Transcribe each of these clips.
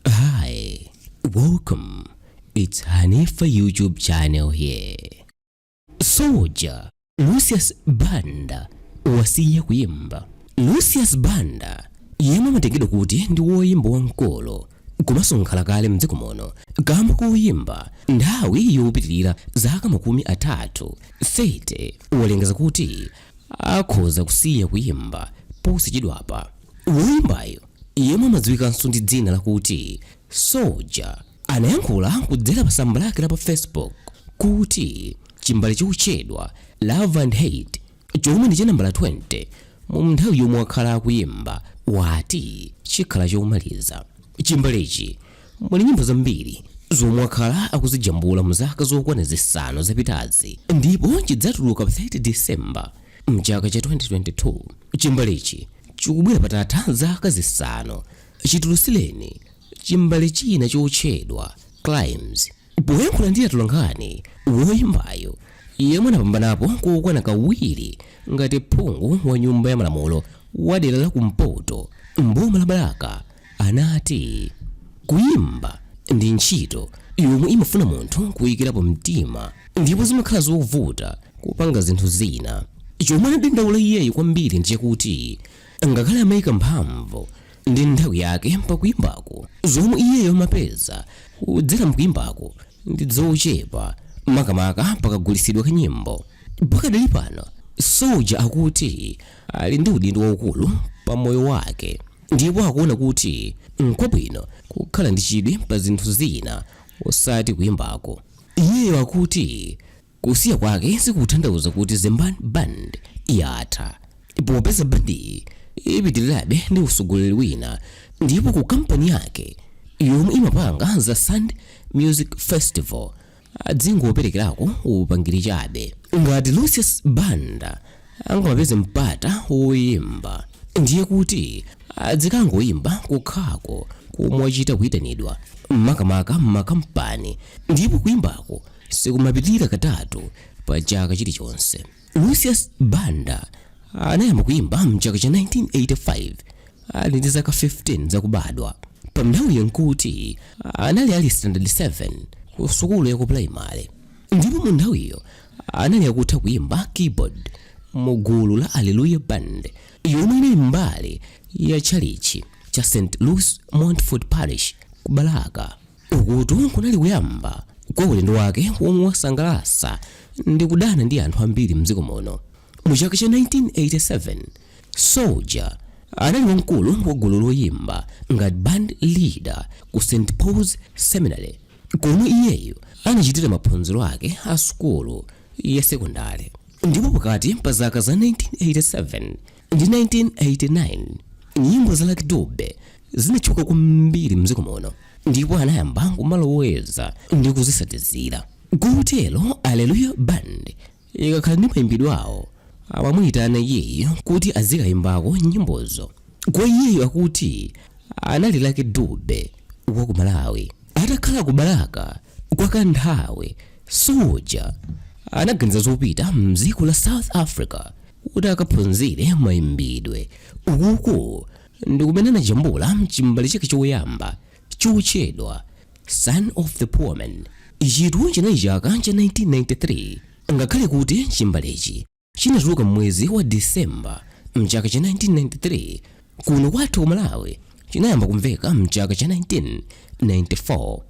Hi, welcome. It's Hanifa YouTube channel here. Soldier Lucius Banda wasiya kuyimba. Lucius Banda yemwe amatengedwa kuti ndi woyimba wamkulu komanso nkhala kale mdziko muno kamba koyimba nthawi yopitirira zaka makumi atatu 30 walengeza kuti akhoza kusiya kuyimba posachedwapa woyimbayo yemwe amadziwikanso ndi dzina lakuti Soldier, anayankhula kudzera pa tsamba lake la pa Facebook kuti chimbale chotchedwa Love and Hate chomwe ndi cha nambala 20 mu nthawi yomwe wakhala akuyimba wati chikhala chomaliza. Chimbalechi muli nyimbo zambiri zomwe wakhala akuzijambula mu zaka zokwana zisanu zapitazi ndipo chidzatuluka pa 30 December Mchaka cha 2022 chimbalechi chikubwera patatha zaka zisanu chitulusileni chimbale china chotchedwa Crimes. Poyankhula ndi atolankhani, woyimbayo yemwe anapambanapo kokwana kawiri ngati phungu wa nyumba ya malamulo wa dera la kumpoto mboma la Balaka anati, Kuimba ndi ntchito yomwe imafuna munthu kuikirapo mtima ndipo zimakhala zovuta kupanga zinthu zina. Chomwe anadandaula iyeyo kwambiri ndi chakuti ngakhale amaika mphamvu ndi nthawi yake pa kuimbako, zomwe iyeyo amapeza kudzera mkuimbako ndi zochepa makamaka pakagulitsidwe ka nyimbo. Pakadali pano, Soldier akuti ali ndi udindo waukulu pa moyo wake. Ndipo akuona kuti n'kwabwino kukhala ndi chidwi pa zinthu zina osati kuimbako. Iyeyo akuti kusiya kwake sikutanthauza kuti Zembani Band yatha, popeza bandiyi ipitirirabe ndi utsogoleri wina ndipo ku kampani yake yomwe imapanga za Sand Music Festival, adzingoperekerako upangiri chabe ngati lucius banda angamapeze mpata woyimba ndiye kuti adzikangoyimba kokhako komwe wachita kuyitanidwa makamaka m'makampani ndipo kuyimbako sikumapitirira katatu pa chaka chilichonse Lucius Banda anayamba kuimba mchaka cha 1985 ali ndi zaka 15 zakubadwa. Panthawiyo nkuti anali ali standard 7 ku sukulu ya ku primary, ndipo mu nthawiyo anali akutha kuimba keyboard mu gulu la Alleluya Band yomwe inali mbali ya tchalitchi cha St. Louis Montfort Parish ku Balaka. Ukutu kunali kuyamba kwa ulendo wake womwe wasangalasa ndi kudana ndi anthu ambiri mdziko muno. Mu chaka cha 1987, Soldier anali wamkulu wa gulu loyimba ngati band leader ku St Paul's Seminary komwe iyeyo anachitira maphunziro ake a sukulu ya sekondale. Ndipo pakati pa zaka za 1987 ndi 1989 nyimbo za Lucky Dube zinatchuka kwambiri mdziko muno ndipo anayamba kumaloweza ndi kuzisatizira kotero Hallelujah Band ikakhala ndi mayimbidwe awo amamuyitana iyeyo kuti azikayimbako nyimbozo kwa iyeyo akuti anali Lucky Dube wa ku Malawi atakhala ku Balaka kwa kanthawi soja anaganiza zopita mdziko la South Africa kuti akaphunzire mayimbidwe ukuku ndi kumene anajambula chimbale chake choyamba chotchedwa son of the poor man ichitu chinali chaka cha 1993 ngakhale kuti chimbalechi chinatuluka m'mwezi wa disemba mchaka cha 1993 kuno kwathu ku malawi chinayamba kumveka mchaka cha 1994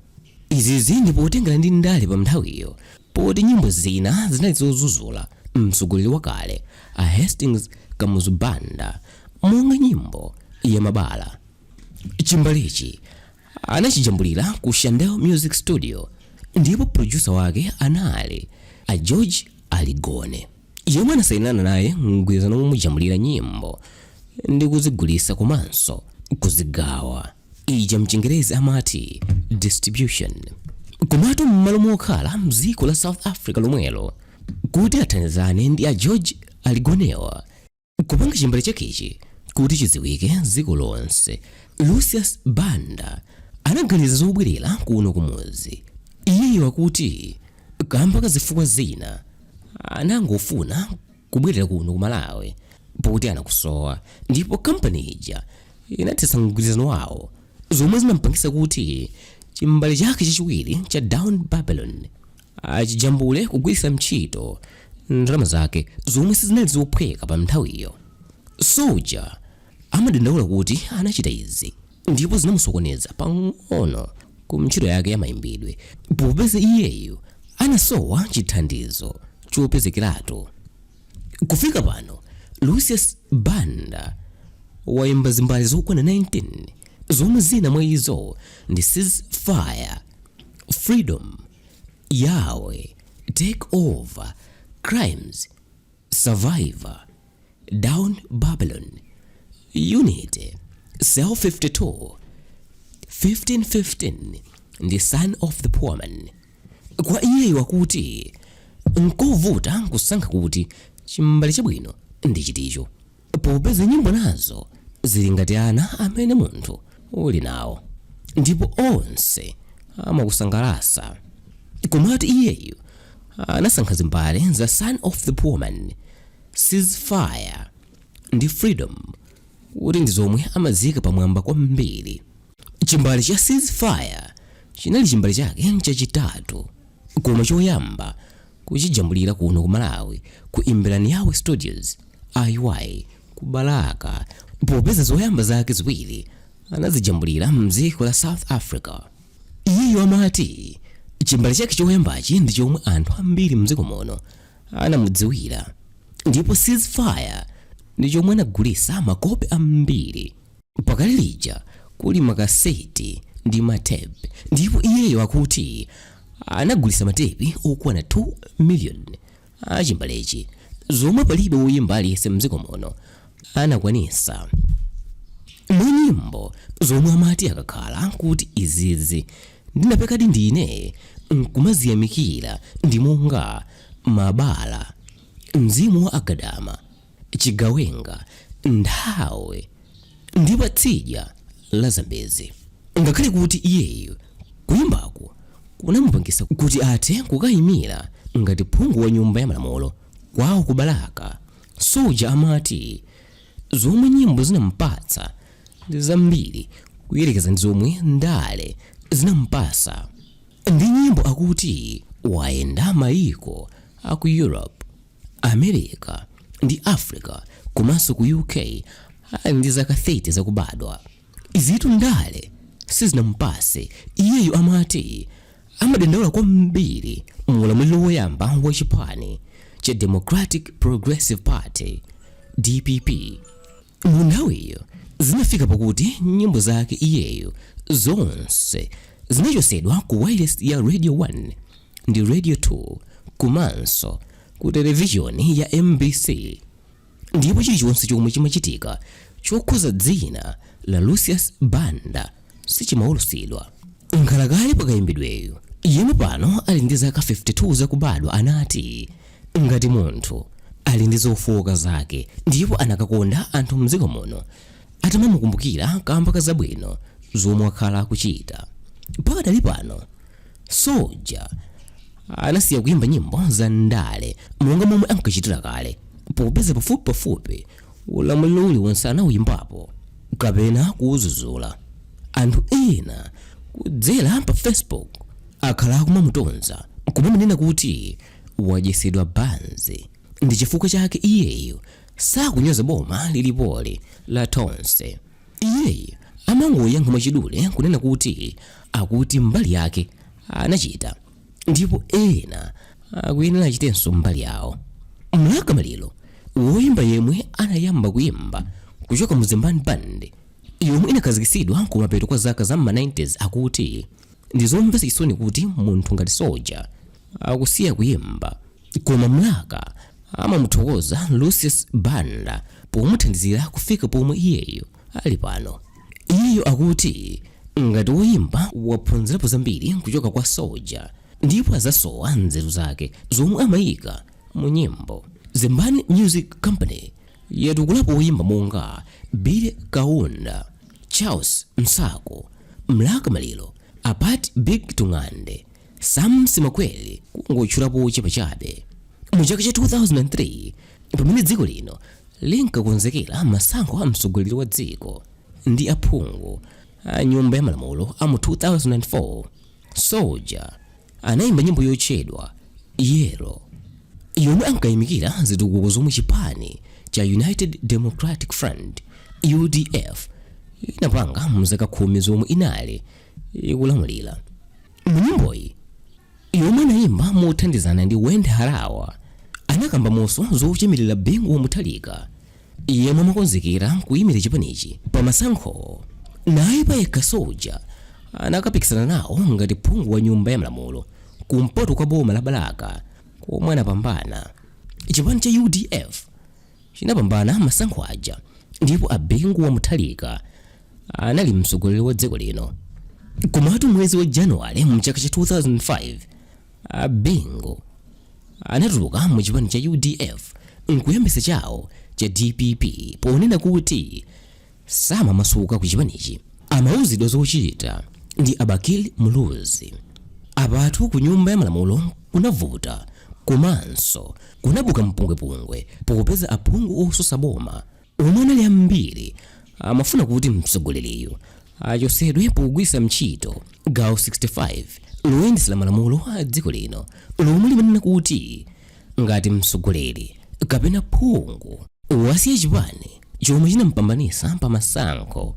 izizi ndi potengera ndi ndale pa nthawiyo Poti nyimbo zina zinali zozuzula mtsogoleri wakale a Hastings Kamuzu Banda monga nyimbo ya mabala, chimbalechi anachijambulira ku Shandel Music Studio ndipo producer wake anali a George Aligone yemwe anasainirana naye mgwirizano womujambulira nyimbo ndi kuzigulitsa komanso kuzigawa. ija mchingerezi amati distribution komatu m'malo mokhala mdziko la south africa lomwelo kuti athandizane ndi a george aligone-wa kupanga chimbale chakechi kuti chidziwike dziko lonse lucius banda anaganiza zobwerera kuno kumudzi iyeyo akuti kamba ka zifukwa zina anangofuna kubwerera kuno ku malawi poti anakusowa ndipo kampani ija inathetsa mgwirizano wawo zomwe zinampangisa kuti chimbale chake chachiwiri cha down babylon achijambule kugwiritsa ntchito ndalama zake zomwe sizinali zophweka pa nthawiyo soja amadandaula kuti anachita izi ndipo zinamusokoneza pang'ono ku ntchito yake ya mayimbidwe popeza iyeyo anasowa chithandizo chopezekeratu kufika pano lucius banda wayimba zimbale zokwana 19 zomwe zina mwa izo ndi ceasefire freedom yahweh take over crimes Survivor, Down Babylon, Unity, Cell 52, 15-15 ndi Son of the Poor Man. Kwa iyeyu akuti nkovuta nkusankha kuti chimbale chabwino ndi chiticho. popeza nyimbo nazo zili ngati ana amene munthu uli nawo ndipo onse amakusangalatsa komatu iyeyu anasankha zimbale za son of the poor man ceasefire ndi freedom kuti ndi zomwe amazika pamwamba kwambiri chimbale cha ceasefire chinali chimbale chake chachitatu koma choyamba kuchijambulira kuno ku malawi ku imbirani yahwe studios iy ku balaka popeza zoyamba zake ziwiri anazijambulira mdziko la south africa iyeyo amati chimbale chake choyambachi ndi chomwe anthu ambiri mdziko muno anamudziwira ndipo ceasefire ndi chomwe anagulisa makope ambiri pakali lija kuli makaseti ndi matepi ndipo iyeyo akuti anagulisa matepi okwana 2 million achimbalechi zomwe palibe woyimba aliyense mdziko muno anakwanisa mwa nyimbo zomwe amati akakhala kuti izizi ndinapekadi ndine nkumaziyamikira ndi monga mabala mzimu wa agadama chigawenga nthawi ndi pa tsidya la zambezi ngakhale kuti iyeyu kuyimbako kunamupangisa kuti athe kukayimira ngati phungu wa nyumba ya malamulo kwawo ku balaka soja amati zomwe nyimbo zinampatsa ndi zambiri kuyerekeza ndi zomwe ndale zinampasa ndi nyimbo akuti wayenda mayiko aku europe America ndi Africa komanso ku UK ali ndi zaka 30 zakubadwa. Izitu ndale sizinamupase. Iyeyu amati amadandaula kwambiri mu ulamuliro woyamba wa chipani cha Democratic Progressive Party, DPP. Mu nthawiyo zinafika pakuti nyimbo zake iyeyo zonse zinachosedwa ku wailesi ya Radio 1 ndi Radio 2 komanso ku televishoni ya MBC ndipo chilichonse chomwe chimachitika chokhuza dzina la Lucius Banda sichimaulutsidwa. Nkhalakale pa kayimbidweyu, yemwe pano ali ndi zaka 52 zakubadwa anati, Ngati munthu ali ndi zofooka zake ndipo anakakonda anthu m'dziko muno atamamukumbukira kaamba ka zabwino zomwe wakhala akuchita. Pakadali pano, Soja anasiya kuyimba nyimbo za ndale monga momwe ankachitira kale popeza pafupipafupi ulamuliro uliwonse anawuyimbapo kapena kuwudzudzula anthu ena kudzera pa facebook akhala akumamutonza kumanena kuti wadyetsedwa banzi ndi chifukwa chake iyeyu sakunyoza boma lilipoli la Tonse iyeyu amangoyankha mwachidule kunena kuti akuti mbali yake anachita ndipo ena akuyenera achitenso mbali yawo mlaka maliro woyimba yemwe anayamba kuyimba kuchoka mu Zembani Band yomwe inakhazikitsidwa kumapeto kwa zaka za ma 90s akuti ndi zomvetsa chisoni kuti munthu ngati soja akusiya kuyimba Koma Mlaka amamuthokoza Lucius Banda pomuthandizira kufika pomwe iyeyu ali pano. Iyeyu akuti ngati woyimba waphunzirapo zambiri kuchoka kwa Soja ndipo adzasowa nzeru zake zomwe amayika mu nyimbo. Zembani Music Company yatukulapo woyimba monga Billy Kaunda, Charles Nsaku, Mlaka Maliro, Albert Big Tung'ande, Sam Simakweli kungotchulapo ochepa chabe. Mu chaka cha 2003 pamene dziko lino linkakonzekera masankho a mtsogoleri wa dziko ndi aphungu a nyumba ya malamulo a mu 2004, Soja anayimba nyimbo yotchedwa Yellow yomwe ankayimikira zitukuko zomwe chipani cha United Democratic Front UDF inapanga mu zaka khumi zomwe inali ikulamulira mu nyimboyi yomwe anayimba mothandizana ndi Wendy Harawa anakamba monso zochemerera Bingu wa Mutharika yemwe amakonzekera kuyimira chipanichi pa masankho naye payekha soja anakapikisana nawo ngati phungu wa nyumba ya malamulo kumpoto kwa boma la balaka komwe anapambana chipani cha udf chinapambana masankho aja ndipo a Bingu wa Mutharika anali mtsogoleri wa dziko lino komatu mwezi wa januwale mchaka cha 2005 a bingu anatuluka mu chipani cha udf nkuyambitsa chawo cha dpp ponena kuti samamasuka ku chipanichi amauzidwa zochita ndi a Bakili Muluzi apatu ku nyumba ya malamulo kunavuta komanso kunabuka mpungwepungwe popeza aphungu otsutsa boma omwe anali ambiri amafuna kuti mtsogoleriyu achosedwe pogwiritsa ntchito gawo 65 loyendesela malamulo a dziko lino lomwe limanena kuti ngati mtsogoleri kapena phungu wasiya chipani chomwe chinampambanisa pa masankho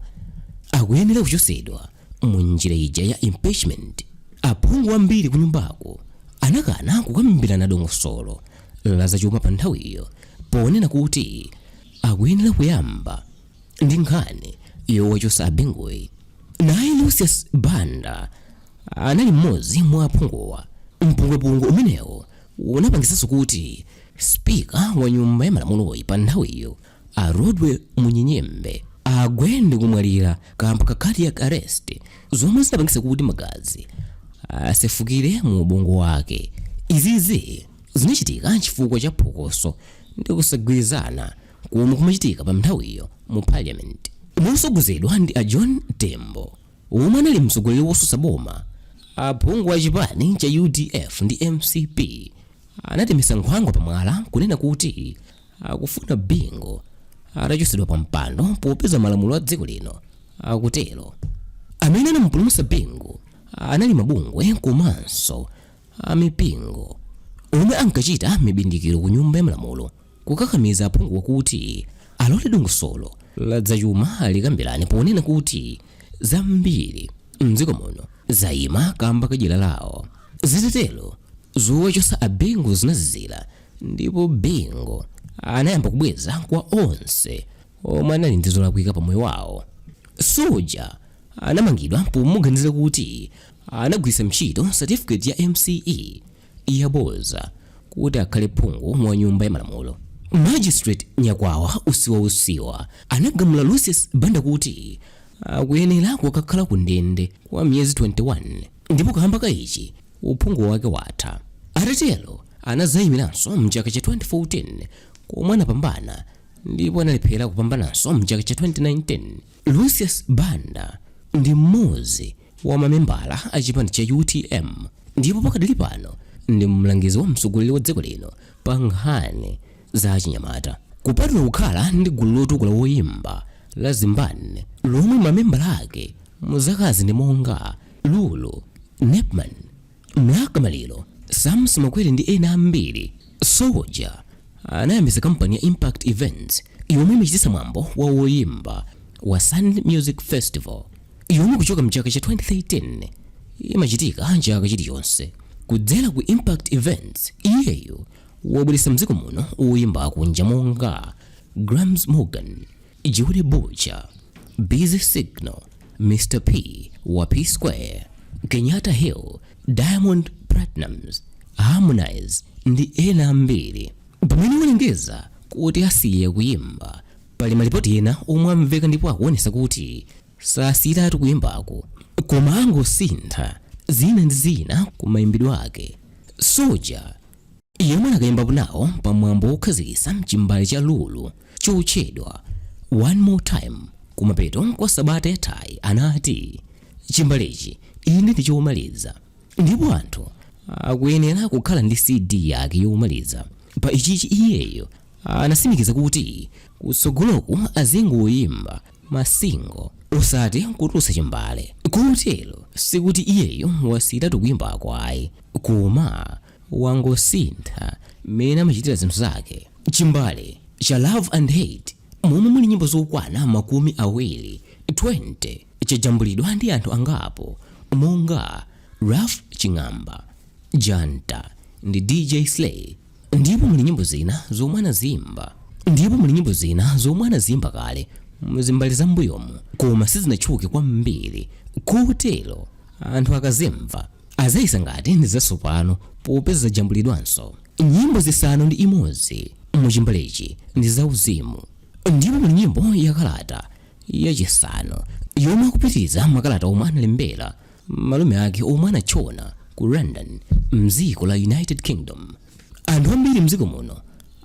akuyenera kuchosedwa mu njira ija ya impeachment aphungu ambiri kunyumbako anakana kukambirana dongosolo la zachuma pa nthawiyo ponena kuti akuyenera kuyamba ndi nkhani yowachotsa abinguyi naye lucius banda anali mmodzi mwa aphunguwa mpungwepungwe umenewu unapangitsanso kuti spika wa nyumba ya malamuloyi pa nthawiyo a rodwell munyenyembe agwe ndi kumwalira kamba ka cardiac arrest zomwe zinapangitsa kuti magazi asefukire mu ubongo wake izizi zinachitika chifukwa cha phokoso ndi kusagwirizana komwe kumachitika pa nthawiyo mu parliament mosogozedwa ndi a john tembo omwe anali mtsogoleri wosusa boma aphungu a chipani cha udf ndi mcp anatemesa nkhwangwa pamwala kunena kuti akufuna bingu atachosedwa pa mpando popeza malamulo a dziko lino akutero amene anamupulumutsa bingu anali mabungwe komanso a mipingo omwe ankachita mibindikiro ku nyumba ya malamulo kukakamiza aphunguwa kuti alole dongosolo la zachuma likambirane ponena kuti zambiri mdziko muno zayima kamba kadyera lawo zitatero zowachotsa a bingu zinazizira ndipo bingu anayamba kubweza kwa onse omwe anali ndi zolakwika pa moyo wawo soldier anamangidwa pomuganizira kuti anagwiritsa ntchito certificate ya MSCE yaboza kuti akhale phungu wa nyumba ya malamulo. Magistrate Nyakwawa Usiwa Usiwa anagamula Lucius Banda kuti akuyenera kukakhala ku ndende kwa miyezi 21 ndipo kamba ka ichi uphungu wake watha. Atatero anazayimiranso mchaka cha 2014 komwe anapambana ndipo analephera kupambananso mchaka cha 2019. Lucius Banda ndi mmodzi wa mamembala a chipani cha utm ndipo pakadali pano ndi mlangizi wa mtsogoleri wa dziko lino pa nkhani za achinyamata kupatula kukhala ndi gulu lotukula woyimba la zembani lomwe mamembala ake mu zakazi ndi monga lulu nepman Mlaka Maliro, Sam Simakweli ndi ena ambiri. Soja anayambitsa kampani ya Impakt Events yomwe imachititsa mwambo wa woyimba wa Sand Music Festival yomwe kuchoka mchaka cha 2013 imachitika chaka chilichonse. Kudzera ku Impakt Events, iyeyo wabweretsa mdziko muno woyimba akunja monga Gramps Morgan, Judy Boucher, Busy Signal, Mr. P wa P Square, Kenyatta Hill, Diamond Platnumz, Harmonize ndi ena ambiri. Pamene walengeza kuti asiye kuyimba, pali malipoti ena omwe amveka ndipo akuonesa kuti sasiyiratu kuyimbako koma angosintha zina ndi zina ku mayimbidwe ake. Soja yemwe anakaimbapo nawo pa mwambo wokhazikitsa chimbale cha Lulu chotchedwa One More Time kumapeto kwa sabata yathayi anati chimbalechi inde ndi chomaliza ndipo anthu akuyenera kukhala ndi CD yake yomaliza pa ichichi iyeyo anasimikiza kuti kutsogoloku azingoyimba masingo osati kutulutsa chimbale kotero sikuti iyeyo wasiyiratu kuyimbaku ayi koma wangosintha mmene amachitira zinthu zake. Chimbale cha Love and Hate momwe muli nyimbo zokwana makumi awiri 20 chajambulidwa ndi anthu angapo monga Ralph Ching'amba, Janta ndi DJ Sley ndipo muli nyimbo zina zomwe anaziimba kale muzimbale za mbuyomu koma sizinatchuke kwambiri kotero anthu akazimva azayesa ngati ndi zatsopano popeza zajambulidwanso nyimbo zisanu ndi imodzi mu chimbalechi ndi zauzimu ndipo muli nyimbo ya kalata yachisanu yomwe akupitiriza makalata omwe analembera malume ake omwe anatchona ku london mdziko la united kingdom anthu ambiri mdziko muno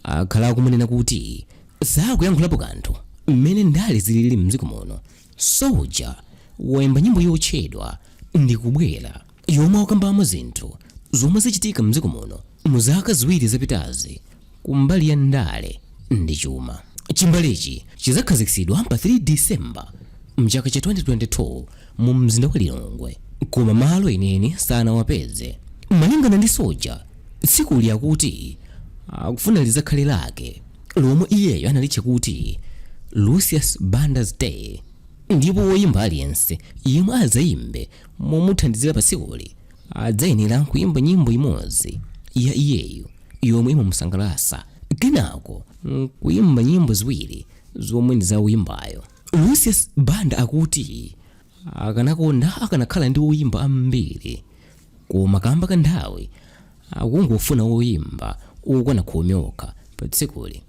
akhala akumanena kuti sakuyankhulapo kanthu mmene ndale zilili mdziko muno Soldier waimba nyimbo yotchedwa Ndikubwera yomwe akambamo zinthu zomwe zachitika mdziko muno mu zaka ziwiri zapitazi kumbali ya ndale ndi chuma. Chimbalechi chidzakhazikitsidwa pa 3 December mchaka cha 2022 mu mzinda wa Lilongwe koma malo enieni sanawapeze. Malingana ndi Soldier, tsikuli akuti akufuna lidzakhale lake. lomwe iyeyo analitcha kuti Lucius Banda's Day ndipo woyimba aliyense yemwe adzayimbe momuthandizira pa tsikuli adzayenera kuyimba nyimbo imodzi ya iyeyo yomwe imamusangalatsa kenako nkuyimba nyimbo ziwiri zomwe ndi za woyimbayo. Lucius Banda akuti akanakonda akanakhala ndi woyimba ambiri koma kamba ka nthawi akungofuna oyimba okwana khumi okha pa tsikuli.